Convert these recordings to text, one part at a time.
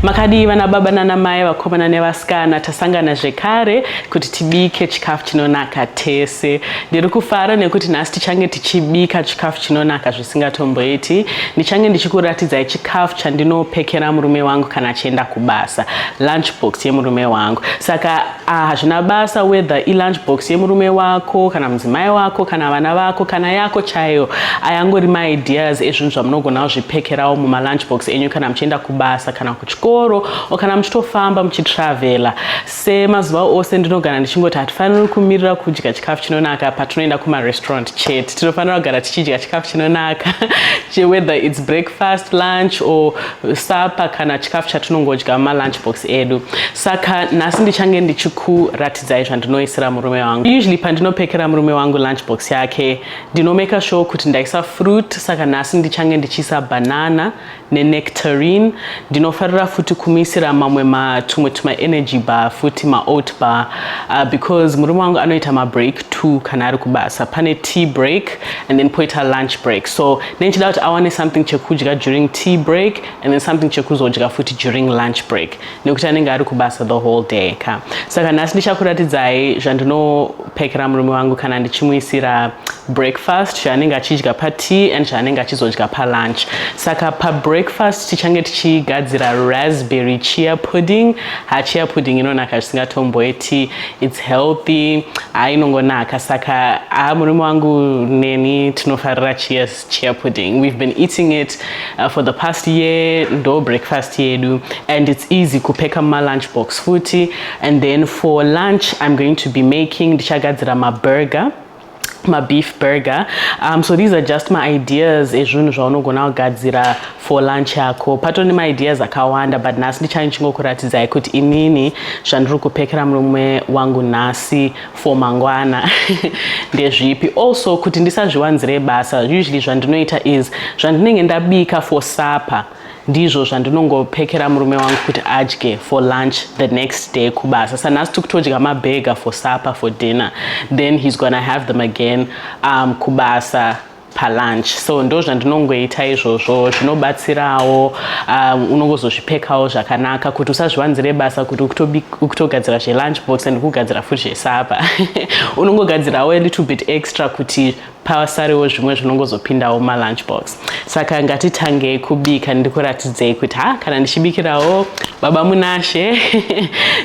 makadii vana baba nana mai vakomana nevasikana tasangana zvekare kuti tibike chikafu chinonaka tese ndiri kufara nekuti nhasi tichange tichibika chikafu chinonaka zvisingatomboiti ndichange ndichikuratidzai chikafu chandinopekera murume wangu kana achienda kubasa lunchbox yemurume wangu saka Ah, hazvina basa whether ilunch box yemurume wako kana mudzimai wako kana vana vako kana yako chaiyo ayangori maideas ezvinhu zvamunogona kuzvipekerawo mumalunch box enyu kana muchienda kubasa kana kuchikoro o kana muchitofamba muchitravela semazuva ose ndinogara ndichingoti hatifaniri kumirira kudya chikafu chinonaka patinoenda kumarestaurant chete tinofanira kugara tichidya chikafu chinonaka whether its breakfast lunch or sapa kana chikafu chatinongodya malunch box edu saka nhasi ndichange ndichikuratidzai zvandinoisira murume wangu usually pandinopekera murume wangu lunch box yake ndinomeka sure kuti ndaisa fruit saka nhasi ndichange ndichiisa banana nenectarine ndinofarira futi kumuisira mamwe matumwe tumaenergy bar futi maoat bar uh, because murume wangu anoita mabreak two kana ari kubasa pane tea break and then poita lunch break so nenichida kuti awane something chekudya during tea break and then something chekuzodya futi during lunch break nekuti anenge ari kubasa the whole day ka saka nhasi ndichakuratidzai zvandinopekera murume wangu kana ndichimuisira breakfast zvaanenge achidya patea and zvaanenge achizodya palunch saka pabreakfast tichange tichigadzira raspberry chia pudding hachia pudding inonaka zvisingatomboiti its healthy haa inongonaka saka haa murume wangu neni tinofarira chia chia pudding we've been eating it uh, for the past year ndo breakfast yedu and its easy kupeka mumalunch box futi and then for lunch i'm going to be making ndichagadzira maburger mabeef burger um, so these are just maideas ezvinhu zvaunogona kugadzira for lunch yako patone maideas akawanda but nhasi ndichange ndichingokuratidzai kuti inini zvandiri kupekera murume wangu nhasi for mangwana ndezvipi also kuti ndisazviwanzire basa usually zvandinoita is zvandinenge ndabika for supper ndizvo zvandinongopekera murume wangu kuti adye for lunch the next day kubasa sanhasi tikutodya mabhega for supper for dinner then he's gonna have them again um, kubasa palunch so ndo zvandinongoita izvozvo zvinobatsirawo um, unongozozvipekawo zvakanaka kuti usazviwanzire basa kuti ukutogadzira zvelunch box and kugadzira futi zvesapa unongogadzirawo a little bit extra kuti pasarewo zvimwe zvinongozopindawo malunch box saka ngatitangei kubika ndikuratidzei kuti ha kana ndichibikirawo baba munashe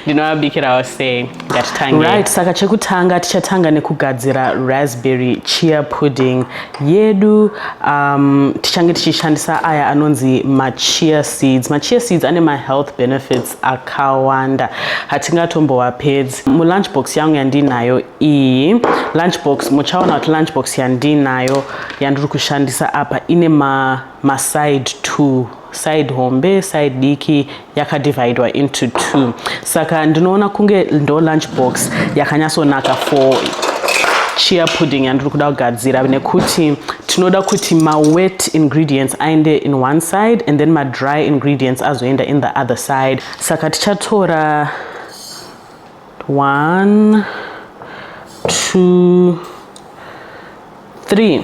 ndinovabikirawo sei ngatitangei right saka chekutanga tichatanga nekugadzira raspberry chia pudding yedu um, tichange tichishandisa aya anonzi machia seeds machia seeds ane mahealth benefits akawanda hatingatombowapedzi mulunchbox yangu yandinayo iyi lunchbox muchaona kuti lunchbox yandinayo yandiri kushandisa apa ine maside ma two side hombe side diki yakadivhaidwa into two saka ndinoona kunge ndo lunch box yakanyatsonaka for chia pudding yandiri kuda kugadzira nekuti tinoda kuti mawet ingredients aende in one side and then madry ingredients azoenda in the other side saka tichatora one two three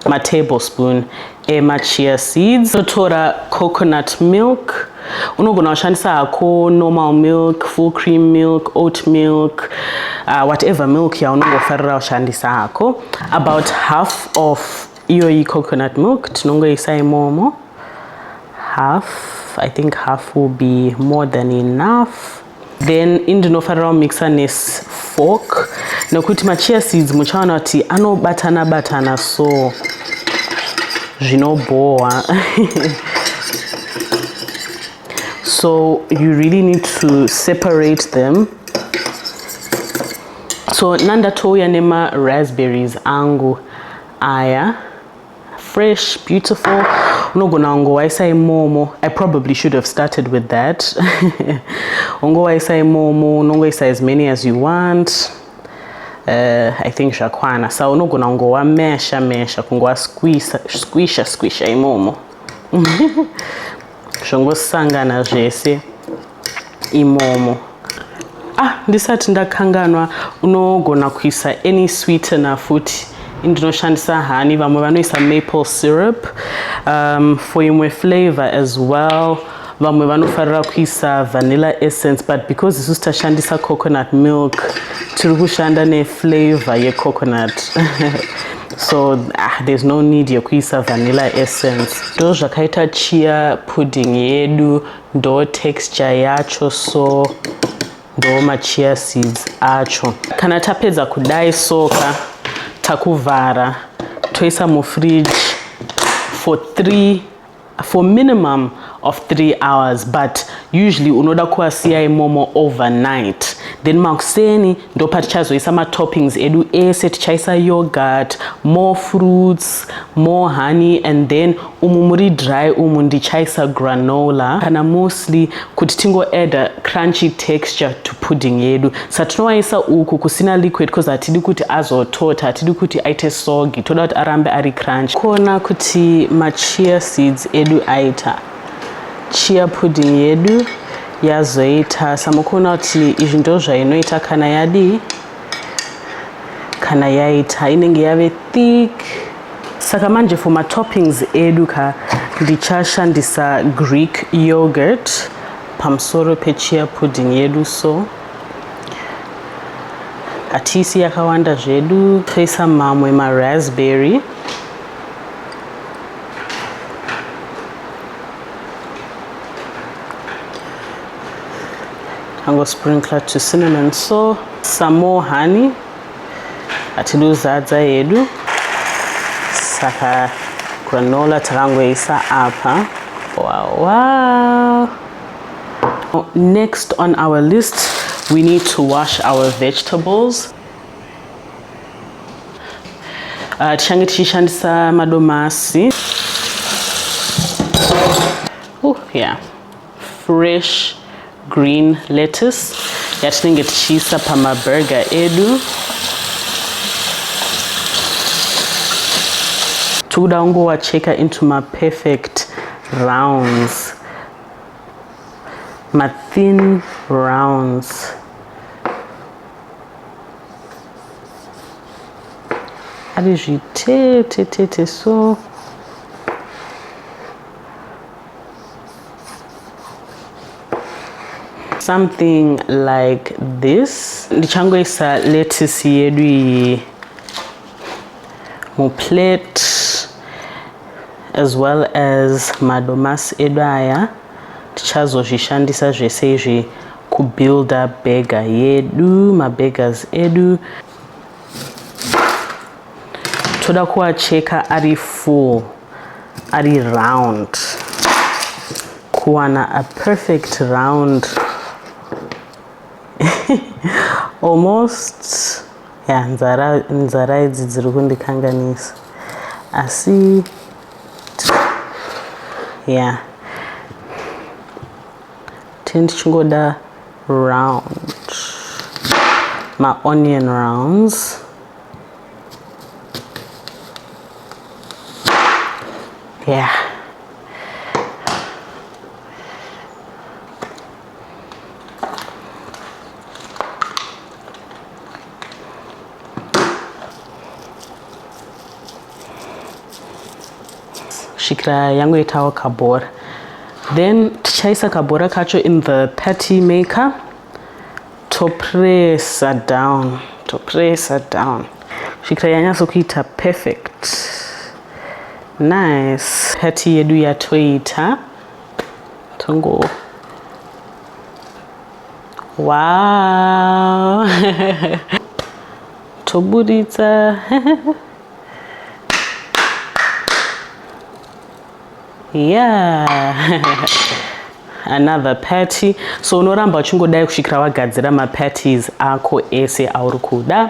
matablespoon emachia seeds totora coconut milk unogona kushandisa hako normal milk full cream milk oat milk uh, whatever milk yaunongofarira kushandisa hako about half of iyoyi coconut milk tinongoisa imomo half i think half will be more than enough then ini ndinofanira kumixa nefork nekuti machia seeds muchaona kuti anobatana batana so zvinobhohwa so you really need to separate them so nandatouya nema raspberries angu aya fresh beautiful unogona kungowaisa imomo i probably should have started with that ungowaisa imomo unongoisa as many as you want uh, i think zvakwana sa unogona kungowa mesha mesha kungowa squisha squisha imomo zvongosangana zvese imomo ah ndisati ndakanganwa unogona kuisa any sweetener futi indinoshandisa hani vamwe vanoisa maple syrup um, for imwe flavor as well vamwe vanofarira kuisa vanilla essence but because isu sitashandisa coconut milk tiri kushanda neflavor yecoconut so ah, there's no need yekuisa vanilla essence ndo zvakaita chia pudding yedu ndo texture yacho so ndo machia seeds acho kana tapedza kudai soka takuvhara toisa mufridge for three for minimum of three hours but usually unoda kuasiya imomo overnight then makuseni ndopatichazoisa matoppings edu ese tichaisa yogurt more fruits more honey and then umu muri dry umu ndichaisa granola kana musli kuti tingoadda crunchy texture to pudding yedu sa tinowaisa uku kusina liquid bcause hatidi kuti azotota hatidi kuti aite sogi toda kuti arambe ari crunch kuona kuti machia seeds edu aita chia pudding yedu yazoita samukuona kuti izvi ndo zvainoita kana yadii kana yaita inenge yave thick Saka manje for ma toppings edu ka ndichashandisa Greek yogurt pamusoro pe chia pudding yedu so hatisi yakawanda zvedu toisa mamwe ma raspberry tango sprinkler to cinnamon so some more honey hatidi kuzadza hedu saka granola takangoisa apa wow, wow. next on our list we need to wash our vegetables uh, tichange tichishandisa madomasi uh, yeah fresh green lettuce yatinenge tichiisa pamaburger edu tikuda kungowacheka into maperfect rounds mathin rounds ari zvitete tete so something like this ndichangoisa lettuce yedu iyi muplate as well as madomasi edu aya tichazozvishandisa zvese izvi kubuilda bega yedu mabegas edu toda kuacheka ari full ari round kuwana a perfect round almost ya nzara nzara idzi dziri kundikanganisa asi ya tini tichingoda round maonion rounds Yeah. kusvikira yangoitawo kabhora then tichaisa kabhora kacho in the patty maker topresa down topresa down kusvikira yanyatso kuita perfect nice hati yedu yatoita tongo wow toburitsa yeah another party so unoramba uchingodai kusvikira wagadzira maparties ako ese auri kuda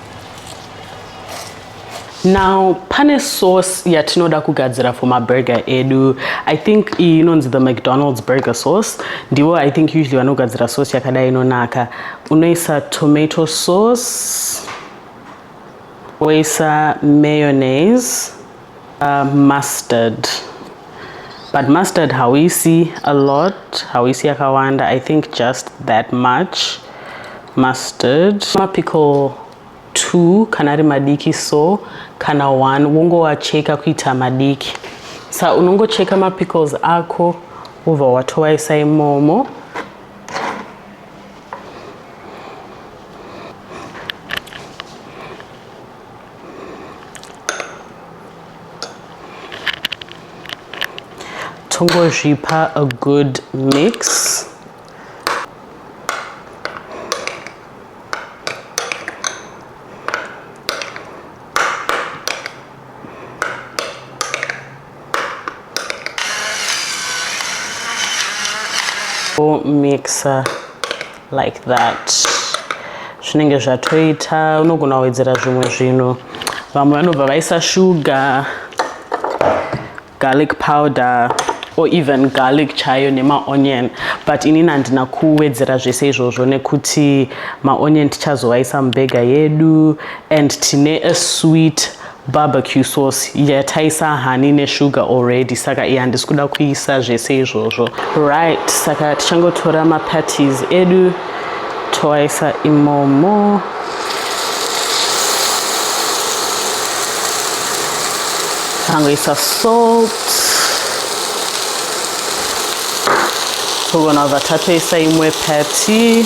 now pane sauce yatinoda kugadzira for maburger edu i think iyi inonzi the mcdonald's burger sauce ndivo i think usually vanogadzira sauce yakadai inonaka unoisa tomato sauce woisa mayonnaise Uh, mustard but mustard hauisi a lot hauisi yakawanda i think just that much mustard mapickle two kana ari madiki so kana one wongoacheka kuita madiki sa unongocheka mapickles ako wobva watovaisa imomo tongozvipa a good mix mixer like that zvinenge zvatoita unogona kuwedzera zvimwe zvinhu vamwe vanobva vaisa shuga garlic powder or even garlic chayo nemaonion but inini handina kuwedzera zvese izvozvo nekuti maonion tichazovaisa mubhega yedu and tine a sweet Barbecue sauce yataisa honey nesugar already saka iya handisi kuda kuisa zvese izvozvo right saka tichangotora mapatties edu toaisa imomo tangoisa salt togona kubva tatoisa imwe pati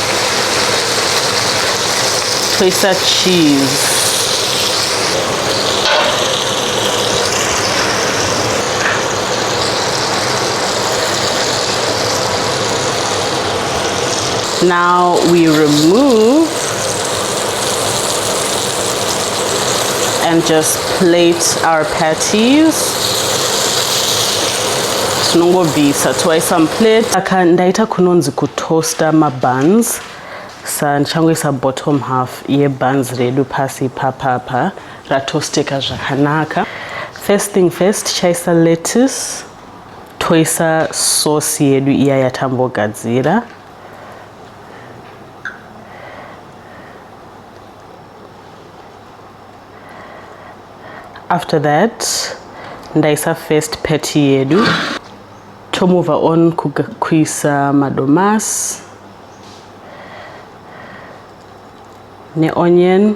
toisa cheese now we remove and just plate our patties tinongobvisa toisa muplate aka ndaita kunonzi kut toaster mabuns sa ndichangoisa bottom half yebuns redu pasi ipapapa ratosteka zvakanaka first thing first tichaisa lettuce toisa sauce yedu iya yatambogadzira after that ndaisa first patty yedu Tomova on kuisa madomasi neonion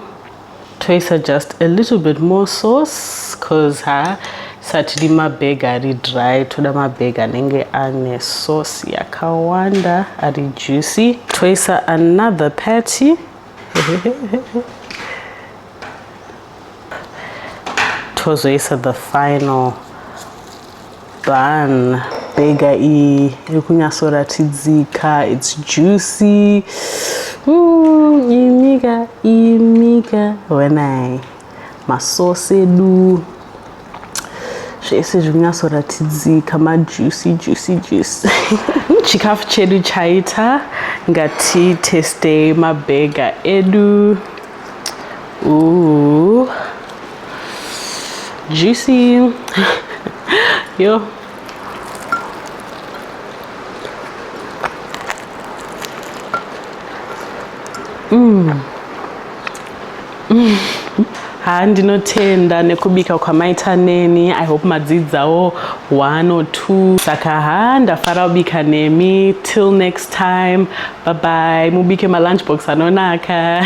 toisa just a little bit more sauce cause ha satidi mabhega ari dry toda mabhega anenge ane sauce yakawanda ari juicy toisa another patty tozoisa the final Bhan, bhega iyi iri kunyatsoratidzika, it's juicy. Mm, imika, imika, wena masosi edu zvese zviri kunyatsoratidzika majuicy juicy juicy chikafu chedu chaita ngatitestei mabhega edu Ooh. Juicy. Yo. Mm. Mm. haa ndinotenda nekubika kwamaita neni i hope madzidzawo one or two saka haa ndafara kubika nemi till next time bye bye mubike malunchbox anonaka